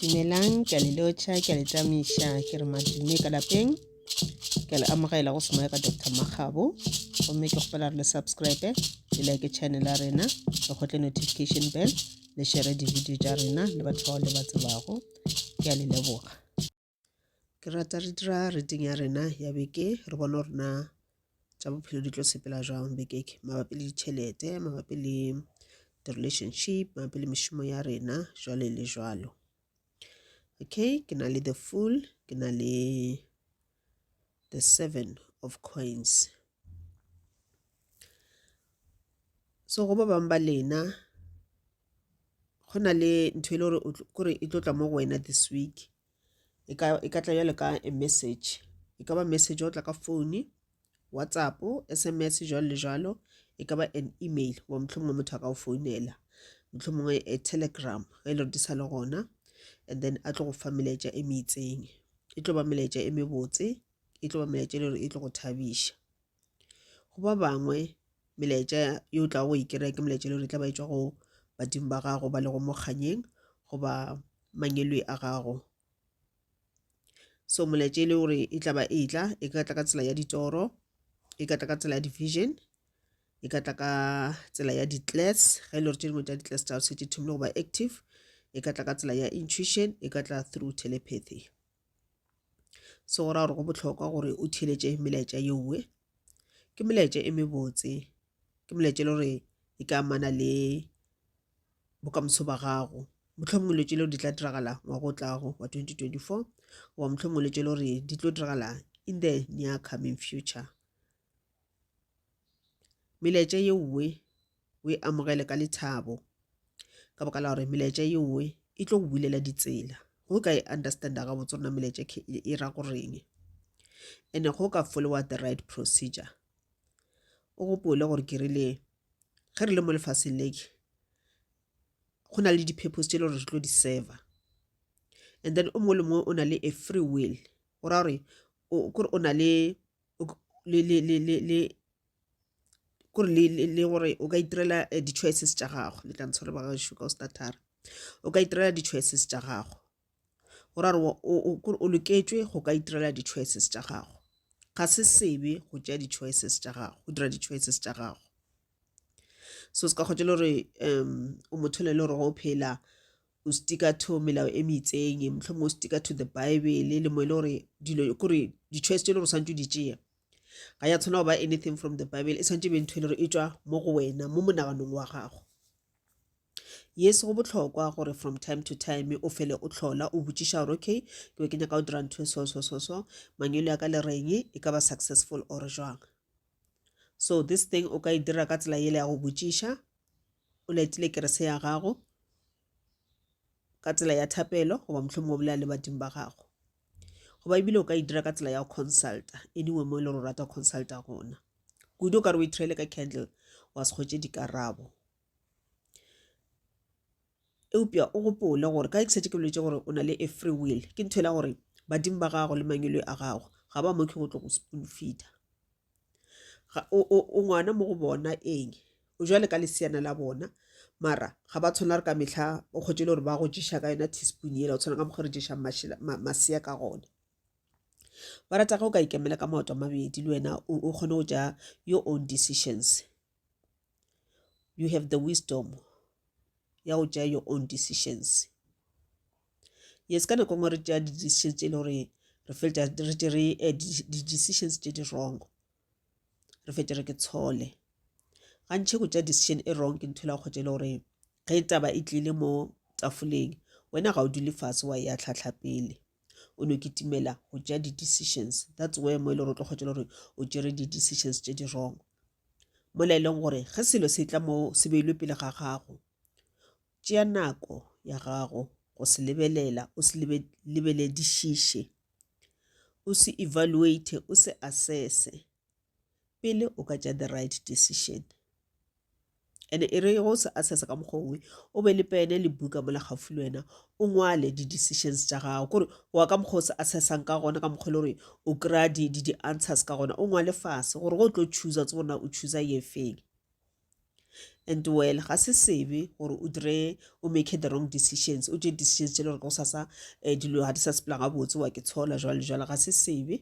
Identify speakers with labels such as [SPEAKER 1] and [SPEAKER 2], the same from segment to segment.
[SPEAKER 1] dumelang ke a le lotšha ke a le tšamiša ke re madume ka lapeng ke a le amogela go semoya ka dr makgabo gomme ke kgopela re le subscribe le like channel ya rena le kgotle notification bell le shere di-video tša rena le batho bao le ba tsebago ke a le leboga ke rata re dira reading ya rena ya beke re bone gore na tša bophelo di tlo sepela jwang bekeke mabapi le ditšhelete mabapi le di-relationship mabapi le mešomo ya rena jwale le jwalo okay ke na le the fool ke na le the seven of coins so go ba bangwe ba lena go na le ntho e le gore kore e tlo tla mo go wena this week e ka e ka tla jwalo ka a message e ka ba message wa tla ka phone WhatsApp S_M_S jwalo le jwalo e ka ba an email goba mohlomongwe motho a ka go founela mohlomongwe a telegram ge e le gore di sa le gona and then a tlo go fa melaetša e meitseng e tlo ba melaetša e mebotse e tlo ba melaetša e le gore e tlo go thabiša Go ba bangwe, melaetša ye o tlago go e kry-a ke melaetša e le gore e tla ba e tšwa go badimo ba gago ba lego mo kganyeng goba mangwelwe a gago. So molaetša e le gore e tla ba e tla, e ka tla ka tsela ya ditoro, e ka tla ka tsela ya di-vision, e ka tla ka tsela ya di ge e le gore tše dingwe tša di tsa gago se di thomile go ba active, e ka tla ka tsela ya intuition, e ka tla through telepathy. se go ra gore go bohlokwa gore o theletše melaetša ye nngwe ke melaetša e mebotse ke melaetša e le gore e ka amana le bokamoso ba gago mohlomongwe letse leo di tla diragala ngwaga o tlago wa 2024 goba mohlomongwe letse le gore di tlo diragala in the near coming future Melaetša ye nngwe o e amogele ka lethabo ka baka la gore melaetša ye nngwe e tlo go bulela ditsela go ka e understanda gabotse rona melaetša e ra go reng ene go ka followa the right procedure o gopole gore ke rile ge re le mo lefaseng leke go na le di-purpose tse e le gore re tlo di-server and then o mongwe le mongwe o na le a free will go ra gore o na le le le le le le kore le le le gore o ka itirela eh, di-choices tša gago le tla ntshware ba gaešo ka o statara o ka itirela di-choices tša gago go ra gore wa- o- o kore o loketšwe go ka itirela di-choices tša gago ga se sebe go tšea di-choices tša gago go dira di-choices tša gago so se ka kgotša le gore um o motho le le gore go phela o stika to melao e meitseng mohlomong o stika to the bible le mo e le gore dilo kore di-choice tse e le gore santse o di tšea ga ya tshwana go ba anything from the bible e santse e be ntho e le gore e tswa mo go wena mo monaganong wa gago yes go botlhokwa gore from time to time o fele o tlhola o botšiša gore okay ke be ke nyaka o dira ntho e so so so so mangwele ya ka le reng e ka ba successful or jwang so this thing o ka e dira ka tsela ele ya go botšiša o letile kerese ya gago ka tsela ya thapelo goba mohlomongwe o bolela le badimo ba gago goba ebile o ka e dira ka tsela ya go consulta anyway mo e le gore o rata go consulta gona kudu o ka re o ithirele ka candle wa se kgwetse dikarabo Eupša o gopole gore ka exate ke boletše gore o na le a free will. Ke ntho e la gore badimo ba gago le mangwelwe a gago ga ba mokhe go tlo go spoon feeder. O ngwana mo go bona eng o jwale ka leseana la bona mara ga ba tshwana re ka metlha o kgotse e le gore ba go jesa ka yona teaspoon ela o tshwana ka mokgwa re jesang masea ka gone ba rata ge o ka ikemela ka maoto a mabedi le wena o kgone go ja your own decisions you have the wisdom ya go tšea your own decisions. Yes ka nako ngwe re tšea di-decision tše e le gore re fetša re tšere eh, di-decisions tše di wrong re fetše re ke tshole gantšhe go tšea decision e wrong ke ntho e la kgotsa e le gore ge taba e tlile mo tafoleng wena ga o dule fase wa ya tlhatlha pele o no kitimela go tša di-decisions that's where mo e le gore o tlo kgwetšela gore o tšere di-decisions tše di wrong mola e leng gore ge selo se tla mo se beilwe pele ga gago tšea nako ya gago go se lebelela o se lebeledišiše o se evaluate o se assesse pele o ka tša the right decision and e re go se assessa ka mokgwa ongwe o be le pene le buka mola gaufi le wena o ngwale di-decisions tša gago kore wa ka mokgwa o se assessang ka gona ka mokgwa e le gore o kry-a di-answers ka gona o ngwale fase gore go tlo choosa tse gorena o choosa ye feng and well ga se sebe gore o dire o make the wrong decisions o tše decisions tše le gore go sasa um dilo ga di sa sepela gabotse wa ke tshola jwale jwale ga se sebe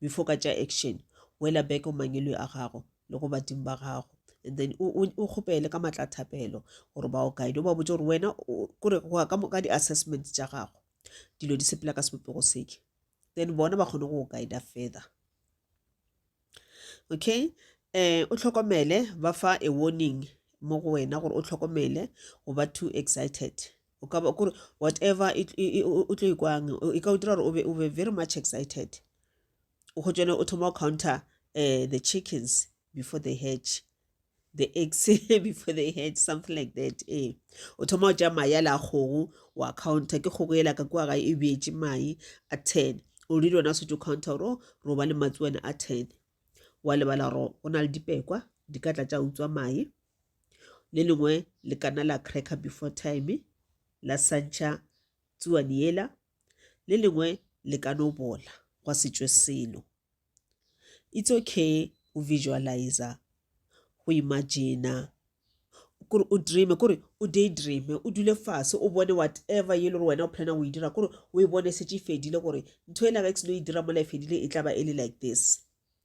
[SPEAKER 1] before ka tša action wela back o mangelwe a gago le go badimo ba gago and then o kgopele ka matla thapelo gore ba o guide o ba botse gore wena kore go ya ka di-assessment tša gago dilo di sepela ka sebopego seke then bona ba kgone go go guida further okay um o tlhokomele ba fa a warning mo go wena gore o tlhokomele go ba too excited o ka ba kore whatever o tlo ikwang e ka o dira gore o be very much excited o kgotšone o thoma o counter uh, the chickens before they hatch the eggs before they hatch something like that ee eh. o thoma o tša mai a la kgogo wa counter ke kgogo ela ka kua ga e beetše mai a ten o rile ona setse o counter gore oh, ro ba le matsuane a ten wa lebala gore go na le dipekwa di ka tla tša utswa mai Le lengwe le kana la cracker before time, la santšha tsuwani yela, le lengwe le ka no bola gwa se tšwe selo. It's okay go visualizer, go imagine-a, kore o dream-e, kore o day dream-e, o dule fase o bone whatever e le gore wena o planner go e dira, kore o e bone e šetše e fedile gore ntho ela ge e se no e dira mola e fedile e tla ba e le like this.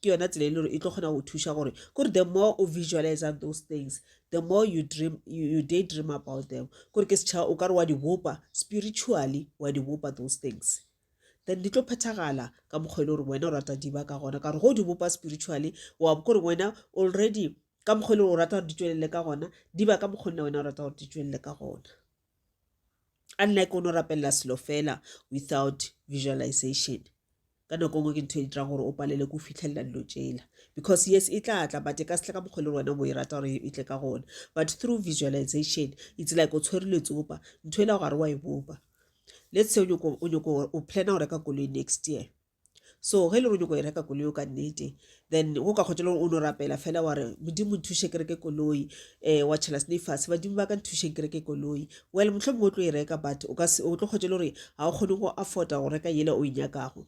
[SPEAKER 1] ke yona tsela e le gore e tlo kgona go thuša gore kore the more o visualize those things the more you dream you, you day dream about them kore ke setšhaba o ka re wa di bopa spiritually wa di bopa those things then di tlo phethagala ka mokgwa e le gore wena o rata diba ka gona ka gore go di bopa spiritually wa bo kore wena already ka mokgwa e le gore o rata gore di tšwelele ka gona diba ka mokgwa nna wena o rata gore di tšwelele ka gona unlike o no rapelela selo fela without visualization ka nako ngwe ke ntho e dirang gore o palele ko fitlhelela dilo tsela because yes e tla tla but e ka setle ka mokgwa le wena mo e rata gore e tle ka gona but through visualization it's like o tshwere letsopa ntho e la gare wa e bopa let's say o nyoko o plana go reka koloi next year So ge le ronyoko go e reka koloi o ka nnete then go ka kgotšelong o no rapela fela wa re modimo nthuše ke reke koloi um wa tšhela sene fase badimo ba ka nthušeng ke reke koloi well motlho mongwe o tlo e reka but o tlo kgotšele gore ga o kgone go afforda go reka yela o e nyakago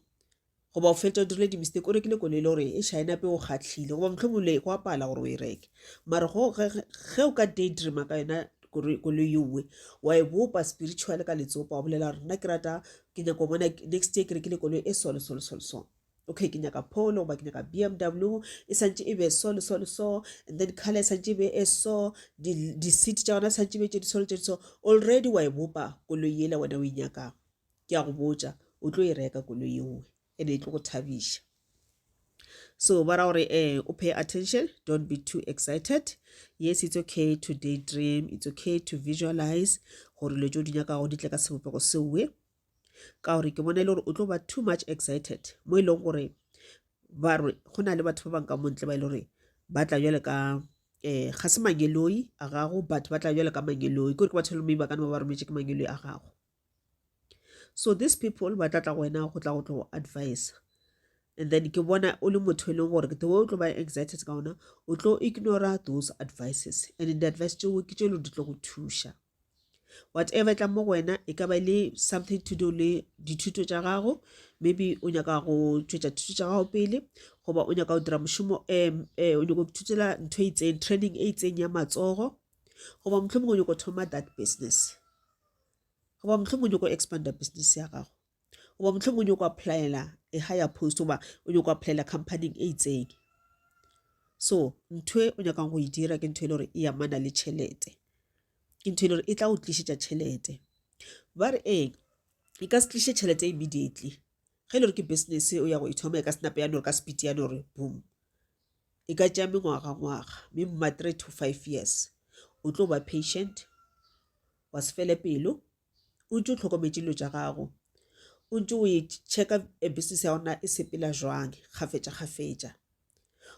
[SPEAKER 1] goba o fetsa o dirile di-mistake o rekile koloi e le gore e shaenape o kgatlhile goba motlho mongwe le go apala gore o e reke mare ge o ka daydreama ka yona koloi yo nngwe wa e bopa spiritual ka letsopa wa bolela gore nna ke rata Ke nyaka go bona next year ke rekile koloi e so le so le so le so okay ke nyaka polo goba ke nyaka bmw e santse e be so le so le so and then color e santse e be e so di-seat tša gona santse e be tše di so le tše di so already wa e bopa koloi yela wena o e nyakang ke ya go botša o tlo e reka koloi engwe e be e tlo go thabiša so ba ra gore eh o pay attention don't be too excited yes it's okay to daydream it's okay to visualize gore dilo tse o di nyakago di tle ka sebopego seoe ka gore ke bona e le gore o tlo ba too much excited mo e leng gore ba re go na le batho ba bangwe ka montle ba e le gore ba tla jale ka um ga se mangeloi a gago but ba tla jale ka mangeloi kore ke batho e le mme ba ka ne ba ba rometse ke mangeloi a gago so these people ba tla tla go wena go tla go tlo advise and then ke bona o le motho e leng gore the way o tlo ba excited ka ona o tlo ignora those advices and di-advice tseo ke tše lo di tlo go thuša whatever e tla mo go wena e ka ba le something to do le dithuto tša gago maybe o nyaka go tšwetša thuto tša gago pele goba o nyaka go dira mošomo um o nyaka go ithutela ntho e itseng training e itseng ya matsogo goba motlho mongwe o nyaka go thoma that business goba mohlomong o nyoko expanda business ya gago goba mohlomong o nyoko applyela e higher post goba o nyoko applyela companyng e itseng so ntho e o nyakang go e dira ke ntho e le gore e amana le tšhelete ke ntho e le gore e tla go tlišetša tšhelete ba re eng e ka se tliše tšhelete immediately ge e le gore ke business o ya go e thoma e ka senape ya nore ka speed ya nore boom e ka tšea mengwaga ngwaga mme mma three to five years o tlo ba patient Wa se fele pelo, o ntše o hlokometše dilo tša gago, o ntše o e checka business ya gago na e sepela jwang kgafetša-kgafetša.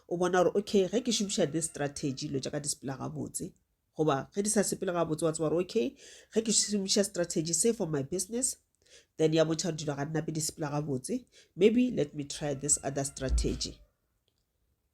[SPEAKER 1] O bona gore okay ge ke šomiša this strategy dilo tša ka di sepela gabotse, goba ge di sa sepele gabotse wa tseba gore okay ge ke šomiša strategy se for my business then ya bontšha gore dilo ga nnape di sepela gabotse, maybe let me try this other strategy.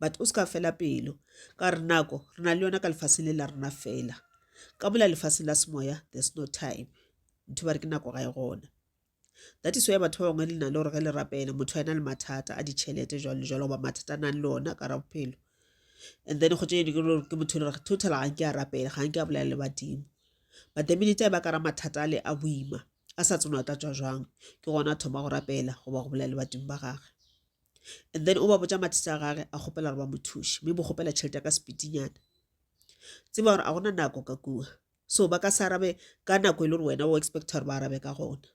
[SPEAKER 1] but o se ka fela pelo ka re nako re na le yona ka lefaseng le la rena fela ka mola lefaseng la semoya there's no time ntho ba re ke nako ga e gona that is why batho ba bangwe le na le gore ge le rapele motho a ena le mathata a ditšhelete jalo le jalo goba mathata a nang le ona ka ra bophelo and then go tšene ke motho le gore total ga nke a rapele ga nke a bolela le badimo but the minute a ba ka ra mathata a le a boima a sa tseno a tla tswa jwang ke gona a thoma go rapela goba go bolela le badimo ba gagwe and then o ba botša mathata a gage a kgopela gore ba mo thuše mme bo kgopela tšhelete ka sepitinyana tseba gore a gona nako ka kua so ba ka se arabe ka nako e le gore wena o expecta gore ba arabe ka gona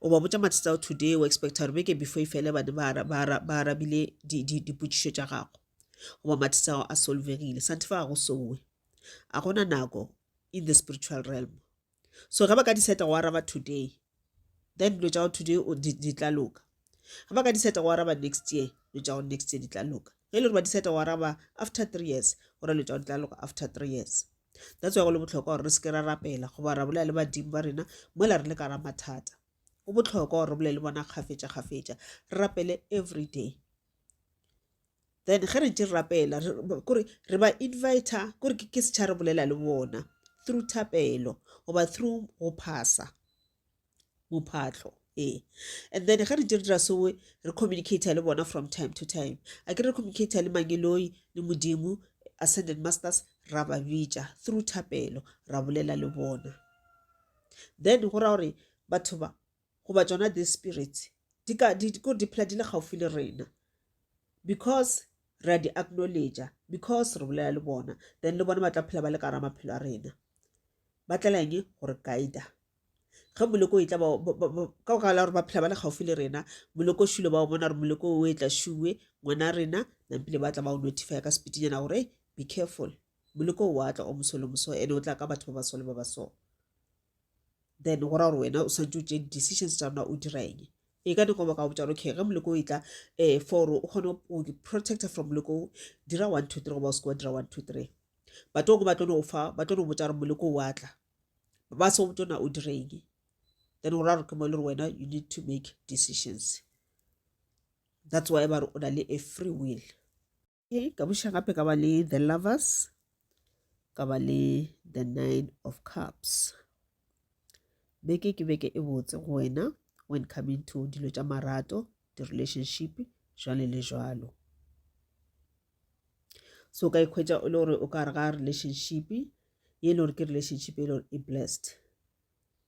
[SPEAKER 1] o ba botša mathata ao today o expecta gore beke before e fele bane ba arabile dipotšišo tša gago goba mathata ao a solvegile sante fa ga go sowe a gona nako in the spiritual realm so ge ba ka diseta go araba today then dilo tša go today di tla loka ge ba ka diseta go araba next year dilo tša go next year di tla loka ge e le gore ba diseta go araba after three years gore dilo tša go di tla loka after three years that's why go le botlhokwa gore re seke ra rapela goba ra bolela le badimo ba rena mola re le ka ra mathata go botlhokwa gore re bolele le bona kgafetša kgafetša re rapele every day then ge re ntse re rapela kore re ba invita kore ke setšha re bolela le bona through thapelo goba through go phasa mophatlo ee and then ge re ntse re dira soe re communicate le bona from time to time a ke re communicate le mangeloi le modimo ascended masters ra ba bitša through thapelo ra bolela le bona then go ra gore batho ba goba tšona this spirit di ka di ko di phela di le gaufi le rena because re a di acknowledge because re bolela le bona then le bona ba tla phela ba le ka ra maphelo a rena ba tlela eng gore guide ge moleko e tla ba ka go gala gore ba phela ba le gaufi le rena moleko shule ba o bona gore moleko o e tla shuwe ngwana rena nampile ba tla ba o notify ka sepitinyana gore be careful moleko o atla o moso le moso ene o tla ka batho ba basole ba ba so then go ra gore wena o swantse o tšee di-decisions tša rona o dira eng e ka dikobo ka botšana okay ge moleko o e tla um for o kgone o protecta from moleko o dira one two three goba o seke wa dira one two three but oko ba tlono fa ba tlono botsa gore moleko o atla ba se o tona o dire eng then go ra gore ke mo e le gore wena you need to make decisions that's why ba re o na le a free will Okay, ka buša gape ka ba le the lovers ka ba le the nine of cups beke ke beke e botse go wena when coming to dilo tša marato di-relationship jwale le jwalo so ka ikhwetša e le gore o ka re ga relationship ye e le gore ke relationship e le gore e blessed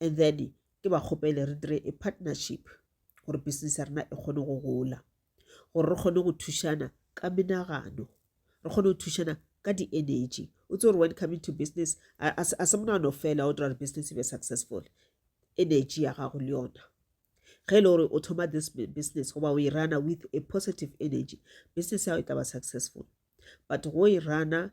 [SPEAKER 1] and then ke ba kgopele re dire a partnership gore business ya rena e kgone go gola gore re kgone go thušana ka menagano re kgone go thušana ka di-energy o tse gore when coming to business a se monano fela o dira gore business e be successful energy ya gago le yona ge e le gore o thoma this business goba o e rana with a positive energy business yago e tla ba successful but go e rana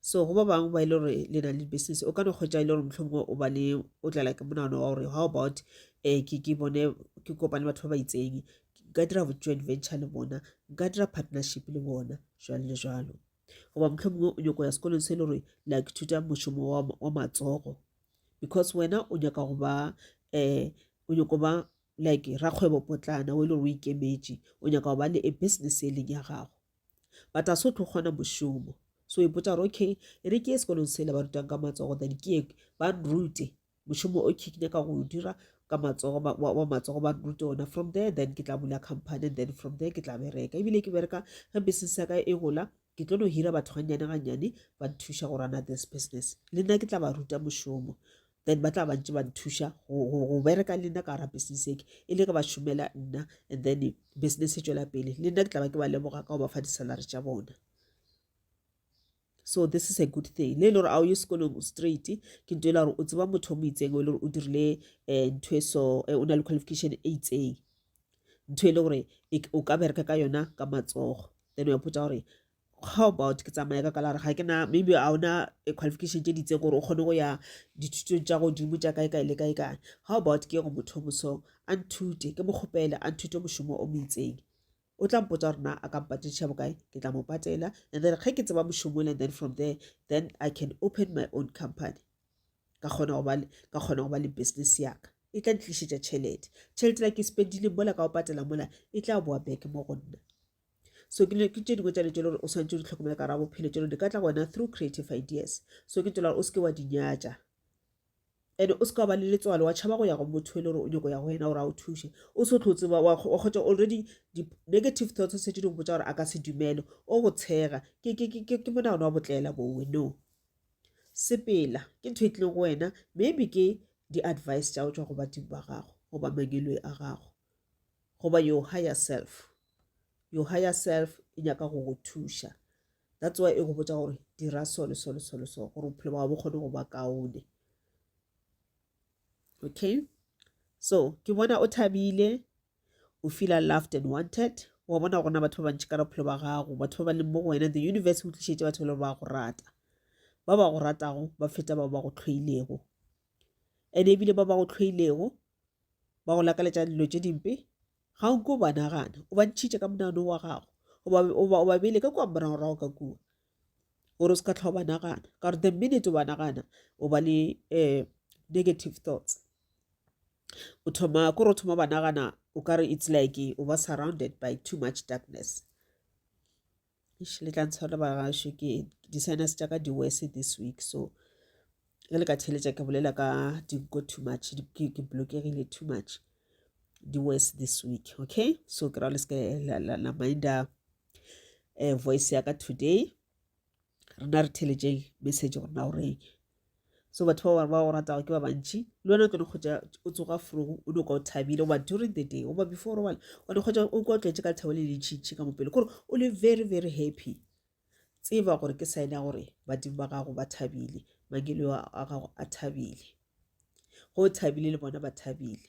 [SPEAKER 1] so go ba bangwe ba e le gore le na le business o ka no kgwetsa e le gore motlhomongwe o ba le o tlala ke monagano wa gore how about um ke bone ke kopane batho ba ba itseng nka dira joint venture le bona nka dira partnership le bona jalo le jalo goba motlhomongwe o nyako ya sekolong se e le gore la ithuta mošomo wa matsogo because wena o nyaka go ba um o nyako ba like rakgwebo potlana o e le gore o ikemetše o nyaka go ba le a business e leng ya gago but a se o tlo kgona mošomo so ipotsa gore okay e re ke ye sekolong sele ba rutang ka matsogo then ke ye ba nrute mošomo o ke nyaka go o dira ka matsogo wa matsogo ba nrute ona from there then ke tla bula company then from there ke tla bereka ebile ke bereka ge business ya ka e gola ke tlo no hira batho gannyane gannyane ba nthuša go rana this business le nna ke tla ba ruta mošomo then ba tla bantse ba nthuša go bereka le nna ka gara business eke e le ge ba šomela nna and then business e tšwela pele le nna ke tla ba ke ba leboga ka go ba fa di-salary tša bona so this is a good thing le e le gore a o ye sekolong straight ke nto e le gore o tseba motho o mo itseng o e le gore o dirile um ntho e so eh, o na le qualification e itseng ntho e le gore e o ka bereka ka yona ka matsogo then wa potsa gore how about ke tsamaya ka kalare ga ke na maybe a ona eh, qualification tše ditse gore o kgone go ya dithutong tša godimo tša kae kae le kae kae how about ke go motho moso a nthute ke mo kgopele a nthute mošomo o moitseng o tla mpotsa gore na a ka mpatediša bokae ke tla mo patela and then ge ke tseba mošomong and then from there then i can open my own company ka kgona go ba le- ka kgona go ba le business yaka e tla ntlišetša tšhelete tšhelete la ke spendile mola ka go patela mola e tla boa back mo go nna so ke tše dingwe tša le tšelo gore o swanetse o di tlhokomela ka ra bophelo tšelo di ka tla go wena through creative ideas so ke tšelo gore o se ke wa di nyatša and o se ka ba le letswalo wa tšhaba go ya go motho e le gore o nyako ya go wena gore a o thuše o se tlo tseba wa kgotsa already di-negative thoughts o setse di go botsa gore a ka se dumele o go tshega ke monagano wa botlela bowe no sepela ke ntho e tlileng go wena maybe ke di-advice tša go tswa go badimo ba gago goba mangelwe a gago goba your higher self your higher self e nyaka go go thuša that's why e go botsa gore dira so le so le so le so gore bophelo ba bo kgone go ba kaone okay so ke bona o thabile o feel loved and wanted wa bona gona batho ba bantši ka bophelo ba gago batho ba ba leng mo go wena the universe o tlišetse batho ba ba go rata ba ba go ratago ba feta ba ba go tlhoilego and ebile ba ba go tlhoilego ba go lakaletša dilo tše dimpe ga o ko ba nagana o ba ntšhitše ka monano wa gago o ba bele ka kua moragorago ka kua gore o se ka tlha o ba nagana ka gore the minute o ba nagana o ba le um negative thoughts o thoma kore o thoma ba nagana o kare it's like o ba surrounded by too much darkness eish le tla ntshwara bagašo ke di-sinus tša ka di-worse this week so ge le ka theletša ke bolela ka dinko too much di- ke ke blokegile too much di-worse this week okay so ke ra le seke la- la la minda um voice ya ka today rena re theletšeng message gore na o reng so batho ba gore ba go ratago ke ba bantši le wena o tlo kgotsa o tsoga frogo o noka o thabile goba during the day goba before robala o tlo kgotsa o kwa o tletse ka lethabo le lentšhintšhi ka mopele kore o le very very happy tseba gore ke sign ya gore badimo ba gago ba thabile mangelo a gago a thabile go thabile le bona ba thabile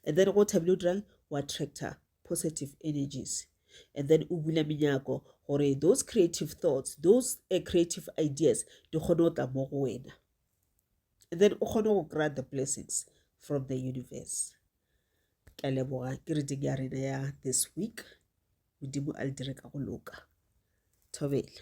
[SPEAKER 1] and then go thabile o dirang o attractor positive energies and then o bula menyako gore those creative thoughts those uh, creative ideas di kgone go tla mo go wena and then o kgone go kry the blessings from the universe ke a leboga ke reading ya rena ya this week modimo a le dire ka go loka thobela